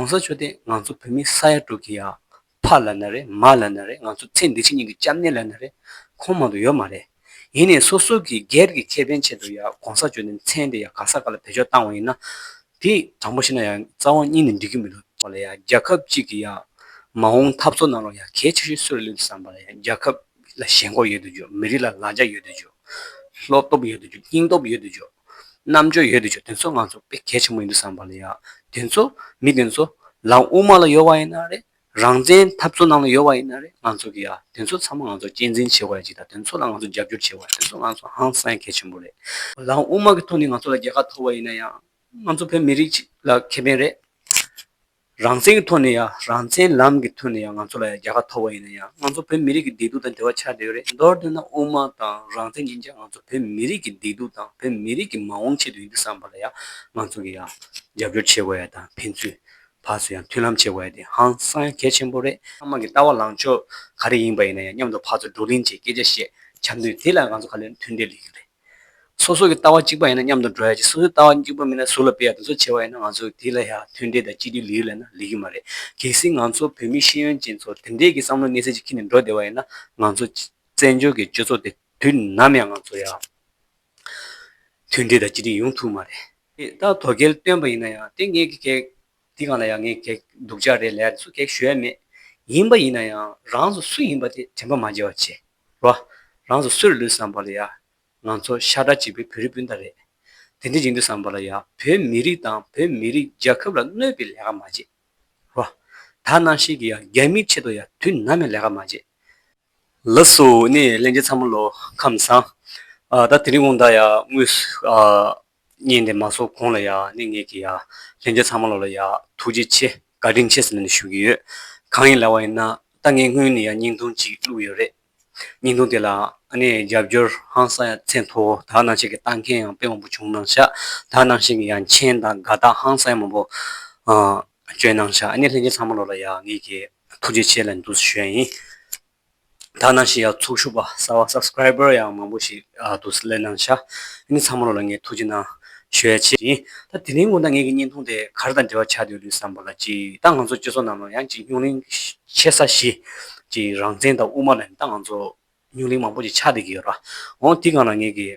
གོང་ས་མཆོག་དེ་ང་ཚོ་བོད་མི་ས་ཡ་དྲུག་གི་ཡང་ཕ་ལ་ན་རེ་མ་ལ་ན་རེ་ང་ཚོ་ཚེ་འདི་ཕྱི་གཉིས་ཀྱི་སྐྱབས་གནས་ལ་ན་རེ་ཁོང་མང་དུ་ཡོད་མ་རེད། ཡིན་ནས་སོ་སོ་གི་སྒེར་གྱི་ཁེ་ཕན་ཆེད་དུ་ཡང་གོང་ས་མཆོག་དེ་མཚན་དེ་ཡང་ག་ས་ག་ལ་བེད་སྤྱོད་བཏང་བ་ཡིན་ན། དེ་དྲང་པོ་ཤེས་ན་ཡང་རྩ་བ་གཉིས་ནས་འགྲིག་གི་མི་འདུག་ཐོག་ལ་ཡང་རྒྱལ་ཁབ་གཅིག་གི་ཡང་མ་འོངས་འཐབ་རྩོད་གནང་རོགས་ཡང་གལ་ཆེ་ཤོས་སུ་རེད་ལུས་བསམ་པ་ལ་ཡང་རྒྱལ་ཁབ་ལ་ཞེན་ཁོག་ཡོད་དུ་འཇོག་མི་རིགས་ལ་ལ་རྒྱ་ཡོད་དུ་འཇོག་བློ་སྟོབས་ཡོད་དུ་འཇོག་སྙིང་སྟོབས་ཡོད་དུ་འཇོག། རྣམ་འགྱུར་ཡོད་དུ་ཆུ་དེ་ཚོ་ང་ཚོ་དཔེ་གལ་ཆེན་པོ་ཡིན་དུ་བསམ་པ་ལ་ཡ། དེ་ཚོ་མི་དེ་ཚོ་ལམ་དབུ་མ་ལ་ཡོད་བ་ཡིན་ན་རེད། རང་བཙན་འཐབ་རྩོད་ནང་ལ་ཡོད་བ་ཡིན་ན་རེད་ང་ཚོ་གི་ཡ། དེ་ཚོ་ཚང་མ་ང་ཚོ་གཅེས་འཛིན་བྱེད་དགོས་ཡ་གཅིག་དང་དེ་ཚོ་ལ་ང་ཚོ་རྒྱབ་སྐྱོར་བྱེད་དགོས་ཡ་དེ་ཚོ་ང་ཚོ་ཧང་སངས་གལ་ཆེན་པོ་རེད། ལམ་དབུ་མ་གི་ཐོག་ནས་ང་ཚོ་ལ་རྒྱལ་ཁ་ཐོབ་བ་ཡིན་ན་ཡང། ང་ཚོ་བོད་མི་རིགས་ལ་ཁེ་ཕན་རེད། རང་བཙན་གྱི་ཐོག་ནས་ཡང་རང་བཙན་ལམ་གྱི་ཐོག་ནས་ཡང་ང་ཚོ་ལ་ཡང་རྒྱལ་ཁ་ཐོབ་པ་ཡིན་ན་ཡང་ང་ཚོ་བོད་མི་རིགས་ཀྱི་བདེ་སྡུག་དང་འབྲེལ་བ་ཆགས་བསྡད་ཡོད་རེད་མདོར་དེད་ན་དབུ་མ་དང་རང་བཙན་གཉིས་ཀྱང་ང་ཚོ་བོད་མི་རིགས་ཀྱི་བདེ་སྡུག་དང་བོད་མི་རིགས་ཀྱི་མ་འོངས་ཆེད་དུ་ཡིན་དུ་བསམ་པ་ལ་ཡང་ང་ཚོ་གྱི་ཡང་རྒྱབ་སྐྱོར་བྱེད་དགོས་ཡ་དང་ཕན་ཚུན་བར་སུ་ཡང་མཐུན་ལམ་བྱེད་དགོས་ཡ་དེ་ཧང་སང་ཡང་གལ་ཆེན་པོ་རེད། ཚང་མ་གྱི་ལྟ་བ་ལངས་ཕྱོགས་ག་རེ་ཡིན་པ་ཡིན་ན་ཡང་མཉམ་དུ་བར་སུ་བགྲོ་གླེང་བྱེད་སྐད་ཆ་བཤད་བྱ་འདུས་དེ་ལ་ང་ཚོ་ག་ལེར་མཐུན་འབྲེལ་ཡོད་རེད། སོ་སོ་གི་ལྟ་བ་གཅིག་པ་ཡིན་ན་མཉམ་དུ་འགྲོ་ཡ་ཅིག་སོ་སོའི་ལྟ་བ་གཅིག་པ་མིན་ན་ཟུར་ལ་སྤེལ་ཡ་དེ་ཚོ་བྱེད་པ་ཡིན་ན་ང་ཚོ་དེ་ལ་ཡང་མཐུན་འབྲེལ་དང་གཅིག་སྡུད་ལེའུ་ལས་ན་ལེགས་ཀྱི་མ་རེད། གལ་སྲིད་ང་ཚོ་བོད་མི་ཤེས་ཡོན་ཅན་ཚོར་དེ་འདྲས་ཀྱི་བསམ་བློ་གནས་ཚད་ཅིག་ཁྱེར་ནས་འགྲོ་བདེ་བ་ཡིན་ན་ང་ཚོ་བཙན་བྱོལ་གྱི་སྤྱོད་ཚོགས་དེ་དུས་ནམ་ཡང་ང་ཚོ་ཡང་མཐུན་འབྲེལ་དང་གཅིག་སྒྲིལ་ཡོང་ཐུབ་མ་རེད། དེ་ད་དོ་གལ་བཏོན་པ་ཡིན་ན་ཡང་དེ་ངེད་ཀྱི་གེགས་དེ་གང་ལ་ཡང་ངེད་གེགས་སྡུག་ཅག་རེད་ལས་ད་གཟོད་གེགས་ཞུ་ཡ་མེད། ཡིན་པ་ཡིན་ན་ཡང་རང་ཚོ་སུ་ཡིན་པ་དེ་དྲན་པ་མ་བརྗེད་བར་བྱེད། རོ། རང་ཚོ་སུ་རུ་ལུས་བསམ་པ་ལ་ཡ། ང་ཚོ་ཤ་ཁྲག་གཅིག་པའི་བོད་རིགས་སྤུན་ཟླ་རེད། དེ་འདྲའི་ཡིན་དུས་བསམ་པ་ལ་ཡ། བོད་མི་རིགས་དང་བོད་མི་རིགས་རྒྱལ་ཁབ་ལ་གནོད་པའི་ལས་ཀ་མ་བྱེད། རོ། ད་ནང་ཤེས་ཀྱི་ཡ་རྒྱ་མིའི་ཆེད་དུ་ཡ་དུས་ནམ་ཡང་ལས་ཀ་མ་བྱེད། ལ་སུ་ནས་གླེན་རྒྱལ་ཚང་མ་ལོ་ཁམས་བཟང། ད་དེ་རིང་གོང་ད་ཡ་དངུལ། བརྙན་དེ་མ་བཟོ་གོང་ལ་ཡག་ནི་ངེད་ཀྱི་ཡག་ལྷན་རྒྱས་ཚང་མ་ལོ་ལ་ཡག་ཐུགས་རྗེ་ཆེ་དགའ་དྲིན་ཆེ་ཟེར་ནས་ཞུ་གི་ཡོད་གང་ཡིན་ལ་བ་ཡིན་ན་ད་ངས་སྔོན་ནས་ཡང་སྙིང་ཐུང་གཅིག་བླུགས་ཡོད་རེད་སྙིང་ཐུང་དེ་ལ་ཨ་ནེ་རྒྱབ་སྐྱོར་ཧང་སང་ཡང་ཚད་མཐོ་བོ་དག་སྣང་བྱེད་ཀྱི་བཏང་མཁན་ཡང་དཔེ་མང་པོ་བྱུང་གནང་ཤག་དག་སྣང་བཞིན་གྱི་ཡང་མཁྱེན་དང་དགའ་རྟགས་ཧང་སང་ཡང་མང་པོ་བསྐྱོན་གནང་ཤག་ཨ་ནེ་ལྷན་རྒྱས་ཚང་མ་ལོ་ལ་ཡག་ངེད་ཀྱི་ཐུགས་རྗེ་ཆེ་ལན་དུ་ཞུ་ཡ་ཡིན། ད་ནང་བཞིན་ཡག་ཚོགས་ཞུགས་པ་གསར་བ Subscriber ཡང་མང་པོ་ཞིག་འདུག་སི་ལེ་ནང་ཤག་ནི་ཚང་མ་ལོ་ལ་ངས་ཐུགས་རྗེ་གནང་ཞོའི་ཆེད་ཡིན་ད་དེ་ལིང་ངོ་ན་ངེད་ཀྱི་བརྙན་ཐུང་དེ་གར་དང་འབྲེལ་བ་ཆགས་འདོད་ལུས་བསམ་པ་ལ་གཅིག་ད་ང་ཚོ་སྤྱི་ཚོགས་ནང་ལ་ཡང་གཅིག་སྙུག་གླིང་ཆེ་ས་གཞི་གཅིག་རང་བཙན་དང་དབུ་མ་ལ་ནི་ད་ང་ཚོ་སྙུག་གླིང་མང་པོ་ཞིག་ཆགས་བསྡད་ཀྱི་ཡོད་ར་འོང་དེ་གང་ལ་ངེད་ཀྱི།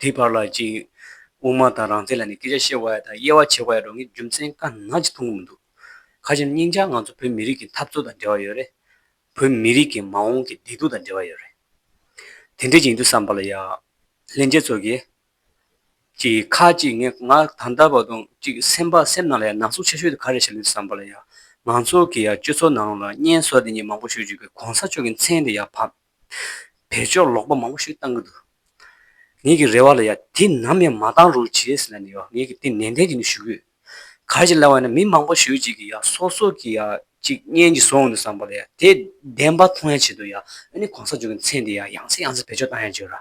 དེའི་བར་ལ་ཅིག། དབུ་མ་དང་རང་རྩལ་ལ་ནི་སྐད་ཆ་བཤད་བ་ཡག་དང་དབྱེ་བ་ཕྱེ་བ་ཡག་འགྲོ་ངས་རྒྱུ་མཚན་དཀའ་ནག་ཅིག་མཐོང་གི་མི་འདུག། ཁ་ཆེམས་སྙིང་ལྕགས་ང་ཚོ་བོད་མི་རིགས་ཀྱི་འཐབ་རྩོད་དང་འབྲེལ་བ་ཡོད་རེད། བོད་མི་རིགས་ཀྱི་མ་འོངས་ཀྱི་བདེ་སྡུག་དང་འབྲེལ་བ་ཡོད་རེད། དེ་འདྲས་ཀྱི་ཡིན་དུས་བསམ་པ་ལ་ཡག། ལྷན་རྒྱས་ཚོ་གིས། ཅིག། ཁ་ཅིག་ངས་ང་ད་ལྟ་བར་དུ་ཅིག་སེམས་པ་སེམས་ནང་ལ་ཡང་ན་ཟུག་ཆེ་ཤོས་དེ་ག་རེ་བྱས་ལོས་བསམ་པ་ལ་ཡག། ང་ཚོ་གི་ཡང་སྤྱོད་ཚོགས་ནང་ལ་བརྙན་བཟོ་འདི་གཉིས་མང་པོ་ཤོད་རྒྱུ་གི་གོང་ས་མཆོག་གི་མཚན་དེ་ཡང་ཕམ། བལ་ཆོག་ལོག་པ་མང་པོ་ཞིག་བཏང་གི་འདུག་ངེད་ཀྱི་རེ་བ་ལ་ཡང་དེ་ནམ་ཡང་མ་བཏང་རོགས་བྱས་ཟེར་ན་ནི་ཡང་ངེད་ཀྱི་དེ་ནན་ཏན་གྱིས་ནི་ཞུ་གི་ཡོད། ག་རེ་ཅིག་ལབ་བ་ཡིན་ན་མི་མང་པོ་ཞུས་ཅིག་གིས་ཡང་སོ་སོ་གིས་ཡང་ཅིག་བསྙེན་གྱིས་སོང་ནི་བསམ་པ་ལ་ཡང་དེ་བདེན་པ་མཐོང་ཡང་བྱེད་དོ་ཡང་ཨ་ནི་གོང་ས་མཆོག་གི་མཚན་དེ་ཡང་ཡང་སེ་ཡང་སེ་བེད་སྤྱོད་བཏང་ཡང་བྱོས་ར།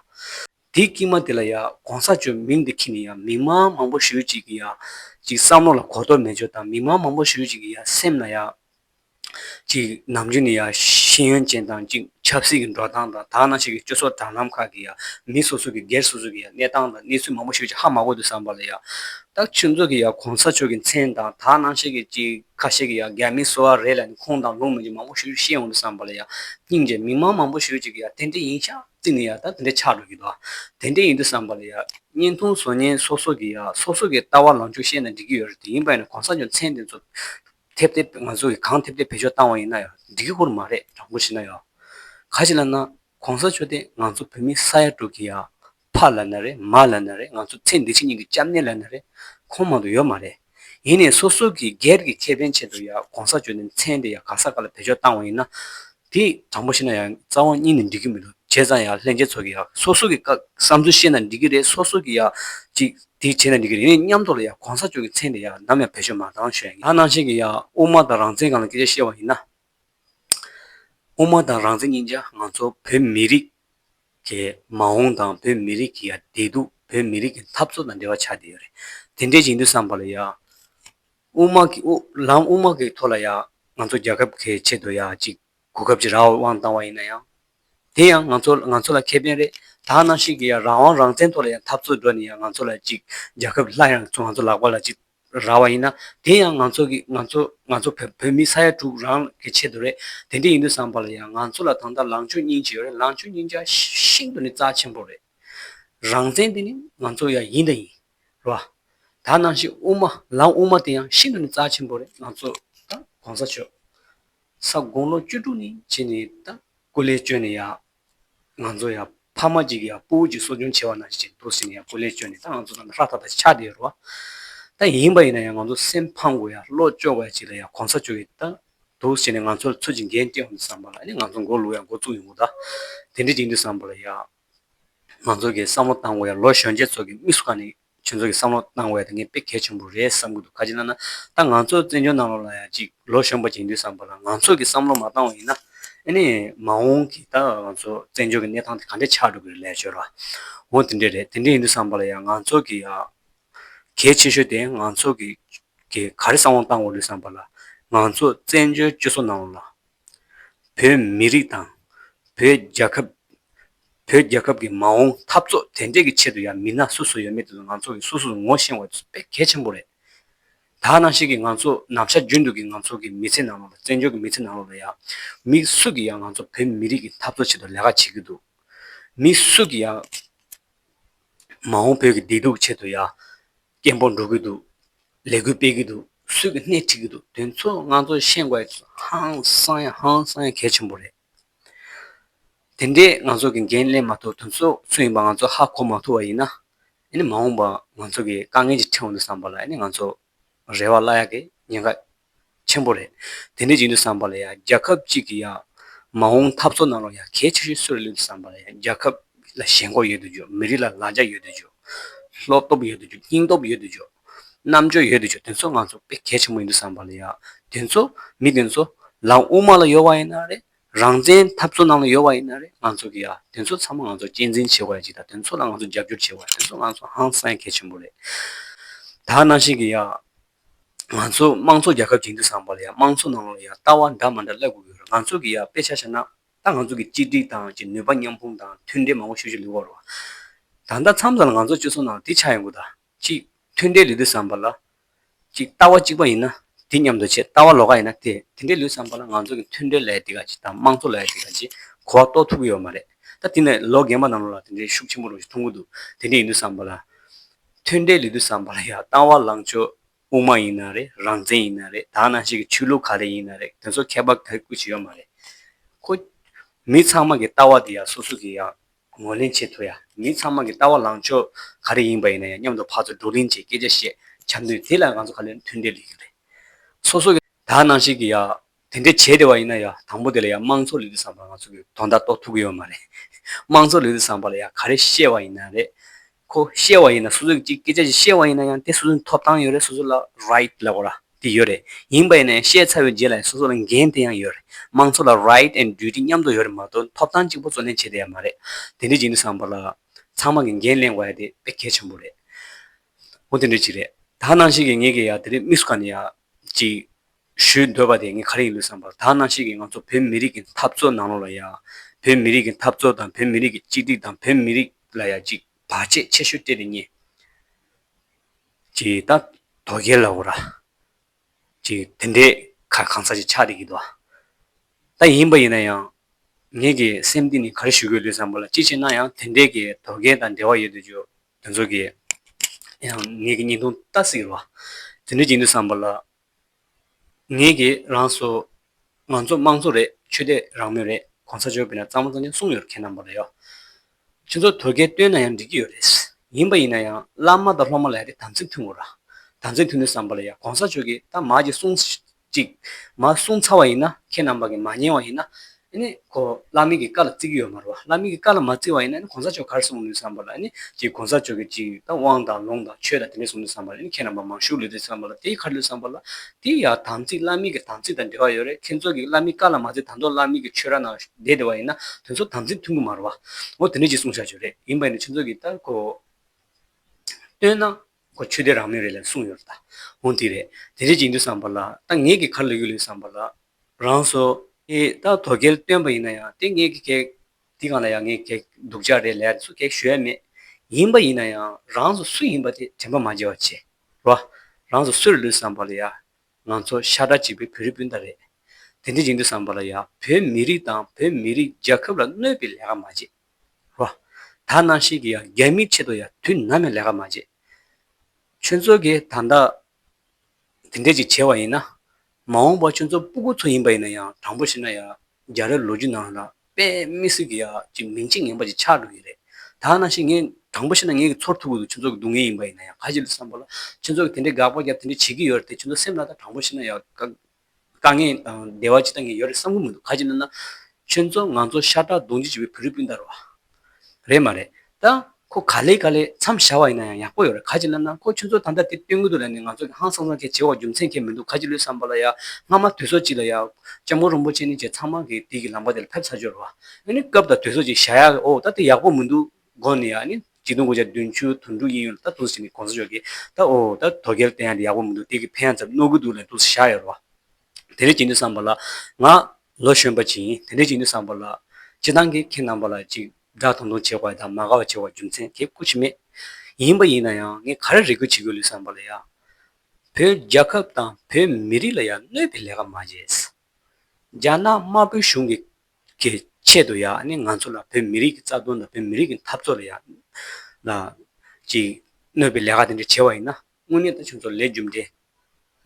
དེ་སྐྱིད་མ་དེ་ལ་ཡང་གོང་ས་མཆོག་མིང་དེ་ཁྱེར་ནི་ཡང་མི་མང་མང་པོ་ཞུས་ཅིག་གིས་ཡང་ཅིག་བསམ་བློ་ལ་གོ་དོག་མེད་བྱོས་དང་མི་མང་མང་པོ་ཞུས་ཅིག་གིས་ཡང་སེམས་ལ་ཡང་གཅིག་ནམ་རྒྱུན་ནས་ཡང་ཤེས་ཡོན་ཅན་དང་གཅིག་ཆབ་སྲིད་ཀྱི་འགྲོ་སྟངས་དང་དག་སྣང་བྱེད་མཁན་སྤྱི་ཚོགས་དྲ་ལམ་ཁག་གི་ཡང་མི་སོ་སོ་གི་སྒེར་སོ་སོ་གི་ཡང་གནས་སྟངས་དང་གནས་ཚུལ་མང་པོ་ཤོད་རྒྱུ་ཧ་མ་གོ་འདུག་བསམ་པ་ལ་ཡང་ཏག་ཆོས་མཛོད་ཀྱི་ཡང་གོང་ས་མཆོག་གི་མཚན་དང་དག་སྣང་བྱེད་མཁན་གཅིག་ཁ་ཤས་ཀྱི་ཡང་སྒེར་མི་སོ་བ་རེ་ལ་ནི་ཁུངས་དང་ལུང་མེད་རྒྱུ་མང་པོ་ཤོད་རྒྱུ་ཤེས་འོང་འདུག་བསམ་པ་ལ་ཡང་སྙིང་རྗེ་མི་མང་མང་པོ་ཤོད་ཅིག་གི་ཡང་དེ་འདྲས་ཡིན་ཤག་གཅིག་ནས་ཡང་ད་དེ་འདྲས་ཆགས་འགྲོ་གི་འདུག་དེ་འདྲས་ཡིན་འདུག་བསམ་པ་ལ་ཡང་བརྙན་ཐུང་བཟོ་ཉན་སོ་སོ་གི་ཡང་སོ་སོ་གི་ལྟ་བ་ལངས་ཕྱོགས་བཤད་ན་འགྲིག་གི་ཡོད་རེད་དེ་ཡིན་པ་ཡིན་ན་གོང་ས་མཆོག་མཚན་དེ་ཚོ་ཐེབས་ཏེ་ང་ཚོ་གིས་གང་ཐེབས་ཐེབས་བེད་སྤྱོད་བཏང་བ་ཡིན་ན་ཡང་འགྲིག་གི་ཁུར་མ་རེད་དྲང་པོ་བྱས་ན་ཡང། ག་ཅི་ལ་ན་གོང་ས་མཆོག་དེ་ང་ཚོ་བོད་མི་ས་ཡ་དྲུག་གི་ཡང་ཕ་ལ་ན་རེ་མ་ལ་ན་རེ་ང་ཚོ་ཚེ་འདི་ཕྱི་གཉིས་ཀྱི་སྐྱབས་གནས་ལ་ན་རེ་ཁོང་མང་དུ་ཡོད་མ་རེད། ཡིན་ནས་སོ་སོ་གིས་སྒེར་གྱི་ཁེ་ཕན་ཆེད་དུ་ཡང་གོང་ས་མཆོག་དེ་མཚན་དེ་ཡང་ག་ས་ག་ལ་བེད་སྤྱོད་བཏང་བ་ཡིན་ན། དེ་དྲང་པོ་ཤེས་ན་ཡང་རྩ་བ་གཉིས་ནས་འགྲིག་གི་མི་འདུག་བྱས་ཙང་ཡང་ལྷན་རྒྱས་ཚོ་གིས་ཡང་སོ་སོ་གི་བསམ་ཚུལ་བཤད་ན་འགྲིག་གི་རེད་སོ་སོ་གིས་ཡང་ཅིག་དེ་བྱས་ན་འགྲིག་གི་རེད་ངས་མཉམ་ཐོག་ལ་ཡང་གོང་ས་མཆོག་གི་མཚན་དེ་ཡང་ནམ་ཡང་བེད་སྤྱོད་མ་གཏང་ཞོད་ང་ནང་བཞིན་གྱི་ཡང་དབུ་མ་དང་རང་བཙན་གང་ལ་སྐད་ཆ་བཤད་པ་ཡིན་ན། དབུ་མ་དང་རང་བཙན་གཉིས་ཀྱང་ང་ཚོ་བོད་མི་རིགས་ཀྱི་མ་འོངས་དང་བོད་མི་རིགས་ཀྱི་ཡང་བདེ་སྡུག་བོད་མི་རིགས་ཀྱི་འཐབ་རྩོད་དང་འབྲེལ་བ་ཆགས་བསྡད་ཡོད་རེད་དེ་འདྲའི་བྱེད་འདུན་བསམ་པ་ལ་ཡང། དབུ་མ་གི་དབུ་ལམ་དབུ་མ་གི་ཐོག་ལ་ཡང་ང་ཚོ་རྒྱལ་ཁབ་ཁའི་ཆེད་དུ་ཡང་ཅིག་གོ་སྐབས་ཀྱི་རང་དབང་བཏང་བ་ཡིན་ན་ཡང། དེ་ཡང་ང་ཚོ་ང་ཚོ་ལ་ཁེ་ཕན་རེད་དག་སྣང་ཞིག་གིས་ཡང་རང་དབང་རང་བཙན་ཐོག་ལ་ཡང་འཐབ་རྩོད་འགྲོ་ནས་ཡང་ང་ཚོ་ལ་ཅིག་རྒྱལ་ཁབ་སླར་ཡང་ང་ཚོ་ལག་པ་ལ་ཅིག་རག་བ་ཡིན་ན་དེ་ཡང་ང་ཚོ་གི་ང་ཚོ་ང་ཚོ་བོད་བོད་མི་ས་ཡ་དྲུག་རང་གི་ཆེད་དུ་རེད་དེ་འདྲས་ཡིན་དུས་བསམ་པ་ལ་ཡང་ང་ཚོ་ལ་ད་ལྟ་ལངས་སྤྱོད་སྙིང་རྗེ་ཡོད་རེད་ལངས་སྤྱོད་སྙིང་རྗེ་ཤིན་ཏུ་ནས་རྩ་ཆེན་པོ་རེད། རང་བཙན་དེ་ནི་ང་ཚོ་ཡང་ཡིན་དང་ཡིན། རོ། ད་ནང་བཞིན་དབུ་མ་ལམ་དབུ་མ་དེ་ཡང་ཤིན་ཏུ་ནས་རྩ་ཆེན་པོ་རེད་ང་ཚོ་དང་གོང་ས་མཆོག་ས་དགུང་ལོ་བཅུ་དྲུག་ནས་བྱས་ནས་དང་སྐུ་ལས་བསྐྱོན་ནས་ཡང་ང་ཚོ་ཡང་ཕ་མ་གཅིག་གི་ཡང་སྤུ་བོ་གཅིག་གསོ་སྐྱོང་བྱེད་བ་ན་ཞིག་འདུག་ཟེར་ནས་ཡང་སྐུ་ལས་བསྐྱོན་ནས་ད་ང་ཚོ་དང་ལྷ་དང་ཆ་དེ་རོ། ད་ཡིན་པ་ཡིན་ན་ཡང་ང་ཚོ་སེམས་ཕམ་དགོས་ཡང་བློ་ལྕོག་པ་ཡང་གཅིག་ལ་ཡང་གོང་ས་མཆོག་གིས་ད་འདུག་ཟེར་ནས་ང་ཚོ་ལ་ཚུལ་གྱི་འགན་བསྐྱེད་འོང་དུ་བསམ་པ་ལ་ཨ་ནི་ང་ཚོ་མགོ་ལུག་ཡང་མགོ་བཙུགས་ཡོང་གི་གདའ། དེ་འདྲའི་ཅིག་འདུག་བསམ་པ་ལ་ཡང། མང་ཚོགས་ཀྱིས་བསམ་བློ་བཏང་དགོས་ཡ་ལོ་གཞོན་ཆེན་ཚོགས་ཀྱི་དམིགས་སུ་བཀར་ནས་ཁྱོད་ཚོ་གི་བསམ་བློ་གཏང་དགོས་ཡ་དེ་ངས་དཔེ་གལ་ཆེན་པོ་རེད་བསམ་གི་འདུག་ག་གྱི་ན་ན་ད་ང་ཚོ་བཙན་བྱོལ་ནང་ལོག་ལ་ཡ་ཅིག་ལོ་གཞོན་པ་གྱིས་འདུས་བསམ་པ་ལ་ང་ཚོ་གི་བསམ་བློ་མ་བཏང་བ་ཡིན་ན་ཨེ་ནས་མ་འོང་གི་ད་ང་ཚོ་བཙན་བྱོལ་གི་གནས་སྟངས་དེ་ག་འདྲས་ཆགས་འགྲོ་གི་རེད་ལས་བྱོས་རོགས་འོང་དེ་འདྲས་རེད་དེ་འདྲས་ཡིན་འདུས་བསམ་པ་ལ་ཡ་ང་ཚོ་གི་ཡ་གལ་ཆེ་ཤོས་དེ་ང་ཚོ་གི་གི་ག་རེ་བསམ་བློ་བཏང་དགོས་འདུས་བསམ་པ་ལ་ང་ཚོ་བཙན་བྱོལ་བཅུ་གསུམ་ནང་ལོག་ལ། བོད་མི་རིགས་དང། བོད་རྒྱལ་ཁབ། བོད་རྒྱལ་ཁབ་ཀྱི་མ་འོངས་འཐབ་རྩོད་དེ་འདྲས་ཀྱི་ཆེད་དུ་ཡང་མི་སྣ་སུ་སུ་ཡོད་མེད་དེ་ཚོ་ང་ཚོ་གིས་སུ་སུར་ངོ་ཤེས་བ་དཔེ་གལ་ཆེན་པོ་རེད། ད་ནང་བཞིན་གྱི་ང་ཚོ་ནམ་ཞར་རྒྱུན་དུ་གྱི་ང་ཚོ་གི་མི་ཚེ་ནང་ལོགས་ལ་བཙན་བྱོལ་གྱི་མི་ཚེ་ནང་ལོགས་ལ་ཡང། མི་སུ་གྱིས་ཡང་ང་ཚོ་བོད་མི་རིགས་ཀྱི་འཐབ་རྩོད་ཆེད་དུ་ལས་ཀ་བྱེད་ཀྱི་འདུག་མི་སུ་གྱིས་ཡང། མ་འོངས་བོད་ཀྱི་བདེ་སྡུག་ཆེད་དུ་ཡང། སྐད་འབོར་འགྲོ་གི་འདུག་ལས་འགུལ་སྤེལ་གི་འདུག་སུས་ཀྱི་སྣེ་ཁྲིད་གི་འདུག་དེ་ཚོ་ང་ཚོ་ཤེས་དགོས་ཧང་སང་ཡ་ཧང་སང་ཡ་གལ་ཆེན་པོ་རེད། དེ་འདྲའི་ང་ཚོ་གི་འགན་ལེན་མ་ཐུབ་དོན་ཚོ་སུ་ཡིན་པ་ང་ཚོ་ཧ་གོ་མ་ཐུབ་པ་ཡིན་ན། ཨཱ་ནི་མ་འོངས་པ་ང་ཚོ་གི་དཀའ་ངལ་གྱི་ཕྲེང་བ་འདི་བསམ་པ་ལ་ཨཱ་ནི་ང་ཚོ་རེ་བ་བླ་ཡག་གི་ཉེན་ཁ་ཆེན་པོ་རེད། དེ་འདྲའི་བྱིངས་དུ་བསམ་པ་ལ་ཡང་རྒྱལ་ཁབ་ཅིག་གི་ཡང་མ་འོངས་འཐབ་རྩོད་ནང་ལ་ཡང་གལ་ཆེ་ཤོས་གསོད་རེ་ལུས་དུ་བསམ་པ་ལ་ཡང་རྒྱལ་ཁབ་ལ་ཞེན་ཁོག་ཡོད་དུ་འཇོག་མི་རིགས་ལ་ལ་རྒྱ་ཡོད་དུ་འཇོག། བློ་སྟོབས་ཡོད་དུ་འཇོག་སྙིང་སྟོབས་ཡོད་དུ་འཇོག། རྣམ་དཔྱོད་ཡོད་དུ་འཇོག་དེ་ཚོ་ང་ཚོ་དཔེ་གལ་ཆེན་པོ་ཡིན་དུ་བསམ་པ་ལ་ཡང་དེ་ཚོ་མི་དེ་ཚོ་ལམ་དབུ་མ་ལ་ཡོད་བ་ཡིན་ན་རེད། རང་བཙན་འཐབ་རྩོད་ནང་ལ་ཡོད་བ་ཡིན་ན་རེད་ང་ཚོ་གི་ཡང་དེ་ཚོ་ཚང་མ་ང་ཚོ་གཅེས་འཛིན་བྱེད་བ་ཡང་ཅིག་དང་དེ་ཚོ་ལ་ང་ཚོ་རྒྱབ་སྐྱོར་བྱེད་བ་ཡང་དེ་ཚོ་ང་ཚོ་ཧང་སངས་གལ་ཆེན་པོ་རེད། ད་ནང་བཞིན་གྱི་ཡང་ང་ཚོ་དམངས་གཙོ་རྒྱལ་ཁབ་ཅིག་འདུག་བསམ་པ་ལ་ཡང་དམངས་གཙོ་ནང་ལ་ཡང་ལྟ་བ་འདྲ་མ་འདྲ་སླེབས་དགོས་ཀྱི་རེད་ང་ཚོས་ཀྱི་ཡང་དཔེ་ཆ་བཤད་ན་ད་ང་ཚོ་གི་གཅིག་སྒྲིག་དང་གཅིག་ནུས་པ་མཉམ་སྤུངས་དང་མཐུན་འབྲེལ་མང་པོ་ཞུ་བཞིན་འདུག་བར་བ། ད་ལྟ་མཚམས་ལ་ང་ཚོ་སྤྱི་ཚོགས་ནང་དེ་ཆགས་ཡོང་དགོས་ད། གཅིག་མཐུན་འབྲེལ་ལས་དུས་བསམ་པ་ལ། གཅིག་ལྟ་བ་གཅིག་པ་ཡིན་ན་དེ་མཉམ་དུ་བྱེད་ལྟ་བ་ལོག་ཀ་ཡིན་ན་དེ་དེ་འདྲའི་ལུས་བསམ་པ་ལ་ང་ཚོ་གི་མཐུན་འབྲེལ་ལས་དེ་ག་ཅིག་དང་དམངས་གཙོ་ལས་དེ་ག་ཅིག་གོ་བ་རྟོགས་ཐུབ་ཀྱི་ཡོད་མ་རེད་ད་དེ་ནས་ལོ་རྒན་པ་ནང་ལོག་ལ་དེ་འདྲའི་ཤུགས་ཆེན་པོ་རུ་མཐོང་གི་འདུག་དེ་འདྲའི་ཡིན་དུས་བསམ་པ་ལ། མཐུན་འབྲེལ་ལས་དུས་བསམ་པ་ལ་ཡང་བཏང་བ་ལངས་ཕྱོགས་དབུ་མ་ཡིན་ན་རེད་རང་བཙན་ཡིན་ན་རེད་དག་ནང་ཞིག་གི་ཆོས་ལུགས་ག་རེ་ཡིན་ན་རེད་དེ་ཚོ་ཁྱད་པར་ག་རེ་སྐུལ་བྱེད་ཡོད་མ་རེད། ཁོ། མི་ཚང་མ་གི་ལྟ་བ་དེ་ཡང་སོ་སོ་གི་ཡང་ངོས་ལེན་བྱེད་ཐུབ་ཡ། མི་ཚང་མ་གི་ལྟ་བ་ལངས་ཕྱོགས་ག་རེ་ཡིན་པ་ཡིན་ན་ཡང་མཉམ་དུ་ཕར་ཚུར་བགྲོ་གླེང་བྱེད་སྐད་ཆ་བཤད་བྱ་འདུན་དེ་ལ་ང་ཚོ་ཁ་ལོས་མཐུན་འབྲེལ་ལས་ཡོད་རེད། སོ་སོ་གི་དག་ནང་ཞིག་གི་ཡང་དེ་འདྲའི་བྱེད་བདེ་བ་ཡིན་ན་ཡང་དང་པོ་དེ་ལ་ཡང་དམངས་འཚོ་ལུས་རྩལ་བཟང་པོ་ང་ཚོ་གིས་དོ་ཟླ་གཏོགས་ཐུབ་ཀྱི་ཡོད་མ་རེད། དམངས་འཚོ་ལུས་རྩལ་བཟང་པོ་ལ་ཡང་ག་རེ་བཤད་བ་ཡིན་ན་རེད། ཁོ་བཤད་བ་ཡིན་ན་སོ་སོས་ཅིག་སྐད་ཆ་ཞིག་བཤད་བ་ཡིན་ན་ཡང་དེ་སོ་སོའི་ཐོབ་ཐང་ཡོད་རེད་སོ་སོ་ལ Right ལབ་ར་དེ་ཡོད་རེད། ཡིན་པ་ཡིན་ན་ཡང་བཤད་ཚར་བའི་རྗེས་ལ་ཡང་སོ་སོ་ལ་འགན་དེ་ཡང་ཡོད་རེད། དམངས་འཚོ་ལ Right and Duty མཉམ་དུ་ཡོད་རེད་མ་གཏོགས་ཐོབ་ཐང་གཅིག་པོ་བརྩོན་ལེན་བྱེད་བདེ་ཡ་མ་རེད། དེ་འདྲའི་བྱེད་ནུས་བཟང་པོ་ལ་ཚང་མ་གིས་འགན་གླེང་བ་ཡ་དེ་དཔེ་གལ་ཆེན་པོ་རེད། འོ་དེ་འདྲའི་ཅིག་རེད། ད་ནང་བཞིན་གྱི་ངེད་ཀྱིས་ཡང་དེ་རིང་དམིགས་སུ་བཀར་ནས་ཡང་ཅིག་ཞུས་འདོད་པ་དེ་ངས་ག་རེ་ཡིན་ལུས་བསམ་པར་ད་གནམ་གཤིས་ཀྱིས་ང་ཚོ་བོད་མི་རིགས་ཀྱི་འཐབ་རྩོད་ནང་ལོགས་ལ་ཡ། བོད་མི་རིགས་ཀྱི་འཐབ་རྩོད་དང་བོད་མི་རིགས་ཀྱི་གཅིག་སྒྲིག་དང་བོད་མི་རིགས་ལ་ཡ་གཅིག་བར་ཆད་ཆེ་ཤོས་སྤྲད་དེ་རྙེད། ཅེས་ད་དོ་རྒྱལ་ལ་འོ་ར། ཅེས་དེ་འདྲའི་ཁར་གང་ཟག་ཅིག་ཆགས་བསྡད་ཀྱི་འདུག་ད་ཡིན་པ་ཡིན་ན་ཡང། ངེད་ཀྱི་སེམས་གཏིང་ནས་ག་རེ་ཞུ་དགོས་ལུས་བསམ་པ་ལ་ཅི་བྱས་ན་ཡང་དེ་འདྲའི་གི་དོ་རྒྱལ་དང་འབྲེལ་བ་ཡོད་དུས་ཆོས་དེ་ཚོ་གིས་ཡང་ངེད་ཀྱི་སྙིང་སྟོང་ལྟ་སྲིད་རོ། དེ་འདྲའི་གྱི་ལུས་བསམ་པ་ལ་ངེད་ཀྱིས་རང་སུ། ང་ཚོ་དམངས་གཙོ་རེད་ཆོས་དད་རང་མོས་རེད་གོང་ས་མཆོག་གིས་ན་གཙང་མ་གཙང་ཆེན་གསུངས་ཡོད་རེད་མཁས་རྣམས་པོ་རེད་ཡོད། ཁྱེད་ཚོ་དོལ་རྒྱལ་བསྟོད་ན་ཡང་འགྲིག་གི་ཡོད་རེད། ཡིན་པ་ཡིན་ན་ཡང་བླ་མ་དང་སློབ་མ་ལ་ཡ་དེ་དམ་ཚིག་མཐུན་གོ་ར། དམ་ཚིག་མཐུན་ནི་བསམ་པ་ལ་ཡ་གོང་ས་མཆོག་གིས་ད་མ་གྱིས་གསུངས་ཅིག། མ་གསུངས་ཚར་བ་ཡིན་ན་ཁྱེད་རྣམས་པ་གིས་མ་ཉན་བ་ཡིན་ན། ཨེ་ནས་ཁོ་བླ་མེད་ཀྱི་བཀའ་ལ་བརྩི་གི་ཡོད་མ་རེད་བ། བླ་མེད་ཀྱི་བཀའ་ལ་མ་བརྩི་བ་ཡིན་ན་ཨེ་ནས་གོང་ས་མཆོག་གར་སོང་ནུས་བསམ་པ་ལ་ཨེ་ནས་ཀྱི་གོང་ས་མཆོག་གི་ཅིག་ད་དབང་དང་ལུང་དང་ཆོས་དང་དེ་འདྲས་སོང་ནུས་བསམ་པ་ལ་ཨེ་ནས་ཁྱེད་རྣམས་པ་མང་ཤུགས་ལུས་འདུག་བསམ་པ་ལ་དེའི་ཁར་ལུས་བསམ་པ་ལ། དེ་ཡང་དམ་ཚིག་བླ་མེད་ཀྱི་དམ་ཚིག་དང་འབྲེལ་བ་ཡོད་རེད་ཁྱེད་ཚོ་གིས་བླ་མེད་བཀའ་ལ་མ་བརྩི་དང་ཐོག་བླ་མེད་ཀྱི་ཆོས་ར་ན་བསྡད་བསྡད་བ་ཡིན་ན་དོན་ཚོ་དམ་ཚིག་མཐུན་གི་མ་རེད་བ། འོ་དེ་འདྲས་ཅིག་གསུངས་བཞག་བྱོས་རེད་ཡིན་པ་ཡིན་ན་ཁྱེད་ཚོ་གིས་ད་གོ། བསྟོད་ན། ཁོ་ཆོས་དད་རང་མོས་རེད་ལན་གསུངས་ཡོད་རེད་ད། འོན་དེ་རེད། དེ་རེད་ཅིག་འདུག་བསམ་པ་ལ། ད་ངེད་ཀྱི་ཁར་ལོས་རྒྱུགས་ལེན་བསམ་པ་ལ། རང་སོ། ཨེ། ད་དོ་གལ་བཏོན་པ་ཡིན་ན་ཡང་དེ་ངེད་ཀྱི་གེགས། འདི་གང་ལ་ཡང་ངེད་གེགས་སྡུག་ཅག་རེད་ལན་སུ་གེགས་ཞུ་ཡ་མེད། ཡིན་པ་ཡིན་ན་ཡང་རང་སོ་སུ་ཡིན་པ་དེ་དྲན་པ་མ་བརྗེད་བ་བྱེད། རོགས། རང་སོ་སུ་རེད་ལོས་བསམ་པ་ལ་ཡ། ང་ཚོ་ཤ་ཁྲག་གཅིག་པའི་བོད་རིགས་སྤུན་ཟླ་རེད། དེ་འདྲེ་ཅིག་འདུག་བསམ་པ་ལ་ཡ་བོད་མི་རིགས་དང་བོད་མི་རིགས་རྒྱལ་ཁབ་ལ་གནོད་པའི་ལས་ཀ་མ་བྱེད། རོ། ད་ནང་ཤེས་ཀྱི་ཡང་རྒྱལ་མིའི་ཆེད་དུ་ཡང་དུས་ནམ་ཡང་ལས་ཀ་མ་བྱེད། ཁྱོད་ཚོ་གིས་ད་ལྟ་དེ་འདྲས་ཅིག་བྱས་བ་ཡིན་ན། མ་འོངས་པར་ཁྱོད་ཚོ་སྤུ་གུ་ཚོ་ཡིན་པ་ཡིན་ན་ཡང་དྲང་པོ་བཤད་ན་ཡང་རྒྱ་རི་ལོ་རྒྱུས་ནང་ལ་དཔེ་མི་སྲིད་ཀྱི་ཡ་ཅིག་མིང་ཅིག་ངན་པ་ཅིག་ཆགས་འགྲོ་གི་རེད། ད་ནང་ཤེས་ངས་དྲང་པོ་བཤད་ན་ངའི་གི་ཚོར་ཐུག་གི་འདུག་ཁྱོད་ཚོ་གི་སྡུག་བསྔལ་ཡིན་པ་ཡིན་ན་ཡང་ག་གཞི་ལ་བསམ་པ་ལ་ཁྱོད་ཚོ་གིས་དེ་འདྲས་དགག་པ་རྒྱབ་དེ་འདྲས་བྱེད་ཀྱི་ཡོད་རེད་དེ་ཁྱོད་ཚོ་སེམས་ལ་ད་དྲང་པོ་བཤད་ན་ཡང་ག། དཀའ་ངལ་དང་བདེ་བ་ཇི་ལྟ་ངས་ཡོད་རེད་བསམ་གྱི་མི་འདུག་ག་ཅིག་ན་ན། ཁྱོད་ཚོ་ང་ཚོ་ཤ་ཁྲག་རྡུང་རྒྱུ་བྱེད་པའི་བུ་རུས་སྤུན་ཟླ་རོ། རེད་མ་རེད། ད་ཁོ་ག་ལེ་ག་ལེ་མཚམས་བཞག་བ་ཡིན་ན་ཡང་ཡག་པོ་ཡོད་རེད་ག་ཅིག་ན་ན་ཁོ་ཁྱོད་ཚོ་ད་ལྟ་དེ་སྟོན་གི་འདུག་ལ་ནི་ང་ཚོ་གི་ཧང་སང་སང་ཁེ་བྱེད་འོག་རྒྱུ་མཚན་ཁེ་མི་འདུག་ག་ཅིག་ལོས་བསམ་པ་ལ་ཡ་སྔ་མ་དུས་སོག་ཅིག་ལ་ཡ། ལྕམ་སྐུ་རོན་པོ་ཆེ་ནི་བཅས་ཚང་མ་གིས་དུས་ཀྱི་ལམ་ཀ་དེ་ལ་ཕེབས་ཚར་འབྱོར་བ། ཨ་ནི་སྐབས་དང་དུས་སོག་ཅིག་བཞག་ཡ་ཨོ་ད་དེ་ཡག་པོ་མི་འདུག། སྒོ་ནས་ཡང་ནི་གཅིག་དུང་དགུ་བརྒྱ་བདུན་ཅུ་དོན་དྲུག་ཡིན་ཡོད་ལ་ད་དུང་ཟིན་མེད་གོང་ས་མཆོག་གིས་ད་ཨོ་ད་དོ་སྐལ་བསྟན་ཡག་འདི་ཡག་པོ་མི་འདུག་དེ་གི་ཕན་ཡང་ཙམ་རྣོ་གི་འདུག་ལན་ཏུ་བཞག་ཡོད་རེད་བ། དེ་འདྲས་ཀྱིས་ནི་བསམ་པ་ལ་ང། ལོ་གཞོན་པ་ཅིག་ཡིན་དེ་འདྲས་ཀྱིས་ནི་བསམ་པ་ལ། སྤྱི་བཏང་གིས་ཁྱེད་རྣམ་པ་ལ་ཅིག་སྒྲགས་ཐུང་ཐུང་བྱེད་དགོས་དང་མ་དགའ་བ་བྱེད་དགོས་རྒྱུ་མཚན་དེ་ཀུ་ཅི་མེད། ཡིན་པ་ཡིན་ན་ཡང་ངས་ག་རེ་རེ་སྐུལ་བྱེད་དགོས་ལུས་བསམ་པ་ལ་ཡང། བོད་རྒྱལ་ཁབ་དང་བོད་མི་རིགས་ལ་ཡང་གནོད་པའི་ལས་ཀ་མ་བྱས། རྒྱ་ནག་དམར་པོའི་གཞུང་གི་གི་ཆེད་དུ་ཡང་ནི་ང་ཚོ་ལ་བོད་མི་རིགས་ཀྱི་རྩ་དོན་དང་བོད་མི་རིགས་ཀྱི་འཐབ་རྩོད་ལ་ཡང་ན་ཅིག་གནོད་པའི་ལས་ཀ་དེ་འདྲ་བྱས་བ་ཡིན་ན་དངོས་གནས་ད་ཁྱོད་ཚོ་ལས་རྒྱུ་འབྲས་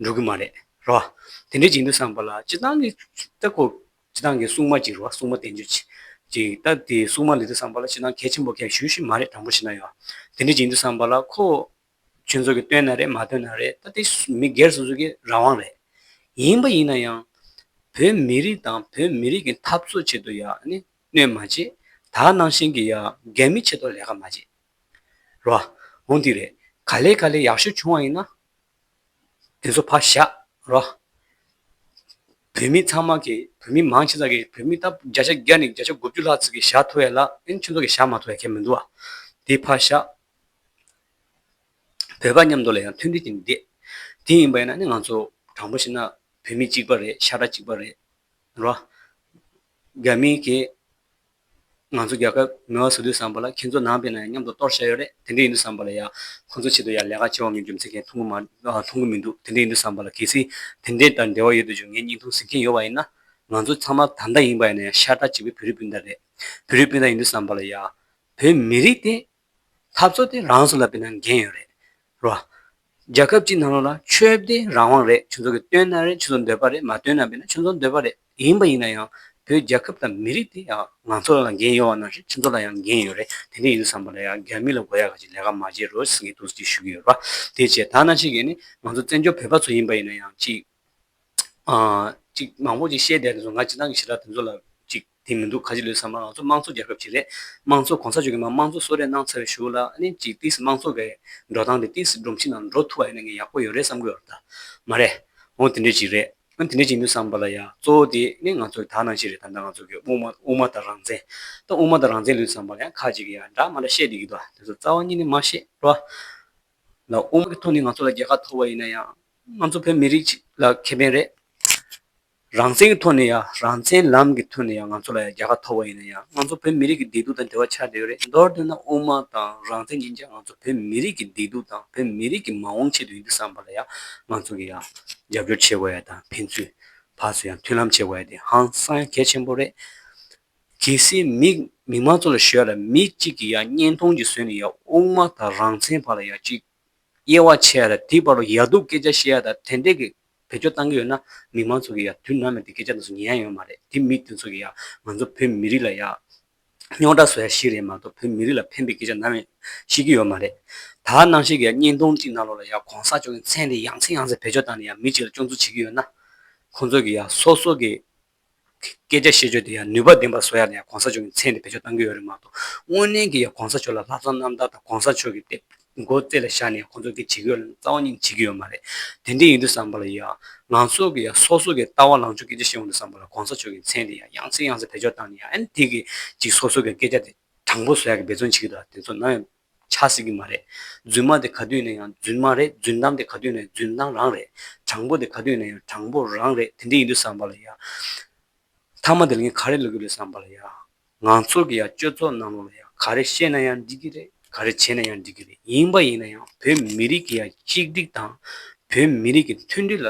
འགྲོ་གི་མ་རེད་རེད་བ། དེ་འདྲའི་བྱིང་དུ་བསམ་པ་ལ་སྤྱི་བཏང་གི་ལྟ་སྐོར་སྤྱི་བཏང་གི་སྲུང་མ་ཅིག་རེད་བ་སྲུང་མ་བསྟན་བཅོས་ཅིག་ཅིག་ལྟ་དེ་སྲུང་མ་ལི་ཐུ་བསམ་པ་ལ་སྤྱི་བཏང་གལ་ཆེན་པོ་གལ་ཞུ་ཞིག་མ་རེད་དྲང་པོ་བྱེད་ན་ཡོད་བ། དེ་འདྲའི་བྱིང་དུ་བསམ་པ་ལ་ཁོ་ཁྱོད་ཚོ་གིས་བཏོན་ན་རེད་མ་བཏོན་ན་རེད་ད་དེ་མི་སྒེར་སོ་སོ་གི་རང་དབང་རེད། ཡིན་པ་ཡིན་ན་ཡང། བོད་མི་རིགས་དང་བོད་མི་རིགས་ཀྱི་འཐབ་རྩོད་ཆེད་དུ་ཡག་ནི་གནོད་མ་བྱེད། དག་སྣང་བཞིན་གྱི་ཡག་སྒེར་མི་ཆེད་དུ་ལས་ཀ་མ་བྱེད། རོ། ཧོན་ཐིག་རེད། ག་ལེ་ག་ལེ་ཡག་ཤོས་བྱུང་བ་ཡིན་ན། དེ་ཚོ་ཕར་བཞག་རོ། བོད་མི་ཚང་མ་གི་བོད་མི་མང་ཆེ་ཙག་གི་བོད་མི་ད་བརྒྱ་ཆ་བརྒྱ་ནས་བརྒྱ་ཆ་དགུ་བཅུ་ལྷག་ཙིག་གི་ཞག་ཐོ་ཡ་ལ། ཨིན་ཁྱོད་ཚོ་གི་ཞག་མ་ཐོ་ཡ་ཁྱད་མི་འདུག་ཨ། དེ་ཕར་བཞག་བོད་པ་མཉམ་དུ་ལ་ཡང་མཐུན་སྒྲིལ་གྱི་མི་བདེ། དེ་ཡིན་པ་ཡིན་ན་ནི་ང་ཚོ་དྲང་པོ་བཤད་ན་བོད་མི་གཅིག་པ་རེད་ཤ་ཁྲག་གཅིག་པ་རེད། རོ། རྒྱ་མིའི་གིས་ང་ཚོ་རྒྱལ་ཁབ་མེ་བ་བཟོ་དུས་བསམ་པ་ལ་ཁྱེད་ཚོ་ནང་པའི་ནང་ཡང་མཉམ་དུ་གཏོར་བཤད་ཡོད་རེད་དེ་འདྲས་ཡིན་དུས་བསམ་པ་ལ་ཡང་ཁོང་ཚོ་ཆེད་དུ་ཡང་ལས་ཀ་བྱེད་དབང་མེད་རྒྱུ་མཚན་གྱིས་མཐོང་གི་མ་མཐོང་གི་མི་འདུག་དེ་འདྲས་ཡིན་དུས་བསམ་པ་ལ་གལ་སྲིད་དེ་འདྲས་དང་འབྲེལ་བ་ཡོད་དུས་ཀྱང་ངས་སྙིང་ཐུང་ཟིག་གིན་ཡོད་པ་ཡིན་ན། ང་ཚོ་ཚང་མ་ད་ལྟ་ཡིན་པ་ཡིན་ན་ཡང་ཤ་ཁྲག་གཅིག་པའི་བོད་རིགས་སྤུན་ཟླ་རེད། བོད་རིགས་སྤུན་ཟླ་ཡིན་དུས་བསམ་པ་ལ་ཡང་བོད་མི་རིགས་དེ་འཐབ་རྩོད་དེ་རང་སུ་ལ་བེད་ན་འགན་ཡོད་རེད་རོ། རྒྱ་ཁབ་སྤྱི་ནང་ལོག་ལ་ཆོས་བདེ་རང་དབང་རེད་ཆུ་ཚོགས་ཀྱི་བཏོན་ན་རེད་ཆུ་ཚོགས་འདོད་པ་རེད་མ་བཏོན་ན་བེད་ན་ཆུ་ཚོགས་འདོད་པ་རེད་ཡིན་པ་ཡིན་ན་ཡང་བོད་རྒྱ་ཁབ་དང་མི་རིགས་དེ་ཡང་ང་ཚོ་ལ་འགན་ཡོད་བ་ན་རེད་ཆུ་ཚོགས་ལ་ཡང་འགན་ཡོད་རེད་དེ་འདྲ་ཡིན་བསམ་པ་ལ་ཡང་རྒྱ་མི་ལ་དགོས་ཡ་ག་ཅིག་ལས་ཀ་མ་བྱེད་རོགས་ཟེར་གི་འདུག་ཅེས་ཞུ་གི་ཡོད་རེད་པ་དེ་བྱས་ད་ནང་ཆེ་གེ་ནི་ང་ཚོ་བཙན་བྱོལ་བོད་པ་ཚོ་ཡིན་པ་ཡིན་ན་ཡང་ཅིག་ཅིག་མང་པོ་ཅིག་བཤད་བསྡད་དེ་ཚོ་ང་སྤྱི་བཏང་གི་ཞེ་དྲག་དེ་ཚོ་ལ་ཅིག། དེ་མི་འདུག་ག་ཅི་ལོས་བསམ་ན་ང་ཚོ་དམངས་གཙོ་རྒྱལ་ཁབ་ཅིག་རེད། དམངས་གཙོ་གོང་ས་མཆོག་གིས་མ་དམངས་གཙོ་གསོལ་རས་གནང་ཚར་བའི་ཞུ་ལ་ཨནི་ཅིག་ཏིས་དམངས་གཙོ་བའི་འགྲོ་སྟངས་དེ་ཏིས་སྒྲོམ་གཞི་ནང་འགྲོ་ཐུབ་པ་ཡིན་ན་ངས་ཡག་པོ་ཡོད་རེད་བསམ་གི་ཡོད་ད། མ་རེད། འོང་དེ་འདྲས་ཅིག་རེད། ཨ་དེ་འདྲས་ཅིག་འདུག་བསམ་པ་ལ་ཡང་གཙོ་བོ་དེ་ནི་ང་ཚོ་དག་ནང་བཞིན་རེད་ད་ད་ང་ཚོ་གི་དབུ་མ་དབུ་མ་དང་རང་བཙན། ད་དབུ་མ་དང་རང་བཙན་ལོས་བསམ་པ་ལ་ཡང་ཁག་ཅིག་གིས་ཡང་འདྲ་མ་འདྲ་བཤད་བསྡད་ཀྱི་འདུག་དེ་ཚོ་རྩ་བ་ཉིད་ནས་མ་ཤེས་བྲོ། ལ་དབུ་མ་གི་ཐོག་ནས་ང་ཚོ་ལ་རྒྱལ་ཁ་ཐོབ་པ་ཡིན་ན་ཡང། ང་ཚོ་བོད་མི་རིགས་ལ་ཁེ་ཕན་རེད། རང་བཙན་གྱི་ཐོག་ནས་ཡང་རང་བཙན་ལམ་གྱི་ཐོག་ནས་ཡང་ང་ཚོ་ལ་ཡང་རྒྱལ་ཁ་ཐོབ་པ་ཡིན་ན་ཡང་ང་ཚོ་བོད་མི་རིགས་ཀྱི་བདེ་སྡུག་དང་འབྲེལ་བ་ཆགས་བསྡད་ཡོད་རེད་མདོར་དེད་ན་དབུ་མ་དང་རང་བཙན་ཡིན་ཀྱང་ང་ཚོ་བོད་མི་རིགས་ཀྱི་བདེ་སྡུག་དང་བོད་མི་རིགས་ཀྱི་མ་འོངས་ཆེད་དུ་ཡིན་དུ་བསམ་པ་ལ་ཡང་ང་ཚོ་གྱི་ཡང་རྒྱབ་སྐྱོར་བྱེད་དགོས་ཡ་དང་ཕན་ཚུན་བར་སུ་ཡང་མཐུན་ལམ་བྱེད་དགོས་ཡ་དེ་ཧང་སང་གལ་ཆེན་པོ་རེད། གལ་སྲིད་མི་མི་མང་ཚོ་ལ་ཞོལ་ལ་མི་གཅིག་གི་ཡང་བརྙན་ཐུང་གཅིག་བཟོས་ནས་ཡང་དབུ་མ་དང་རང་བཙན་བར་ལ་ཡང་གཅིག་དབྱེ་བ་ཕྱེ་ཡ་དང་དེའི་བར་དུ་ཡར་འདུག་སྐད་ཆ་བཤད་ཡ་དང་དེ་འདྲས་ཀྱི་བེད་སྤྱོད་གཏང་གི་ཡོད་ན་མི་མང་ཚོ་གི་ཡང་དུས་ནམ་ཡང་དེ་སྐད་ཆ་འདི་ཚོ་ཉན་ཡ་ཡོད་མ་རེད་དེ་མི་དེ་ཚོ་གི་ཡང་ང་ཚོ་བོད་མི་རིགས་ལ་ཡང་རྙོག་དྲ་བཟོ་ཡ་ཞིག་རེད་མ་གཏོགས་བོད་མི་རིགས་ལ་ཕན་པའི་སྐད་ཆ་ནམ་ཡང་བཤད་ཀྱི་ཡོད་མ་རེད་ད་གནང་བཤད་ཀྱི་ཡང་བརྙན་ཐུང་གཅིག་གནང་ལོག་ལ་ཡང་གོང་ས་མཆོག་གི་མཚན་དེ་ཡང་ཚིག་ཡང་ཚིག་བེད་སྤྱོད་གཏང་ནས་ཡང་མི་གཅིག་ལ་སྐྱོན་འཛུགས་བྱེད་ཀྱི་ཡོད་ན་ཁོང་ཚོ་གི་ཡང་སོ་སོ་གི་སྐད་ཆ་བཤད་སྤྱོད་དེ་ཡང་ནུས་པ་ལྡན་པར་བཟོ་ཡ་ལ་ཡང་གོང་ས་མཆོག་གི་མཚན་དེ་བེད་སྤྱོད་གཏང་གི་ཡོད་རེད་མ་གཏོགས་དངོས་གནས་ཀྱི་ཡང་གོང་ས་མཆོག་ལ་ལྷག་བསམ་རྣམ་དག་དང་གོང་ས་མཆོག་གི་སྟེ་མགོ་རྩེ་ལ་བཞག་ནས་ཁོང་ཚོ་གི་བྱེད་ཀྱི་ཡོད་ལ་རྩ་བ་ཉིད་བྱེད་ཀྱི་ཡོད་མ་རེད་དེ་འདྲས་ཡིན་དུས་བསམ་པ་ལ་ཡང་ང་ཚོ་གི་ཡང་སོ་སོ་གི་ལྟ་བ་ལངས་ཕྱོགས་སྐད་ཆ་བཤད་འོང་དུས་བསམ་པ་ལ་གོང་ས་མཆོག་གི་མཚན་དེ་ཡང་ཡང་ཚིག་ཡང་ཚིག་བེད་སྤྱོད་བཏང་ནས་ཡང་ཨེ་ན་དེ་གི་ཅིག་སོ་སོ་གི་སྐད་ཆ་དེ་དྲང་པོ་བཟོ་ཡ་གི་འབད་བརྩོན་བྱེད་ཀྱི་འདུག་ད་དེ་ཚོ་ནམ་ཡང་ཆགས་སྲིད་ཀྱི་མ་རེད། རྫུན་མ་དེ་ག་དུས་ནས་ཡང་རྫུན་མ་རེད་རྫུན་གཏམ་དེ་ག་དུས་ནས་ཡང་རྫུན་གཏམ་རང་རེད། དྲང་པོ་དེ་ག་དུས་ནས་ཡང་དྲང་པོ་རང་རེད་དེ་འདྲ་ཡིན་དུས་བསམ་པ་ལ་ཡ། མཐའ་མ་དེ་ལ་ངས་ག་རེ་ལབ་ཀྱི་རེད་བསམ་པ་ལ་ཡ། ང་ཚོར་གྱི་ཡ་སྤྱོད་ཚོགས་གནང་རོགས་ལ་ཡ་ག་རེ་བཤད་ན་ཡང་འགྲིག་གི་རེད་ག་རེ་བྱས་ན་ཡང་འགྲིག་གི་རེད་ཡིན་པ་ཡིན་ན་ཡང་བོད་མི་རིགས་ཀྱི་ཡ་གཅིག་སྒྲིག་དང། བོད་མི་རིགས་ཀྱི་མཐུན་སྒྲིལ་ལ།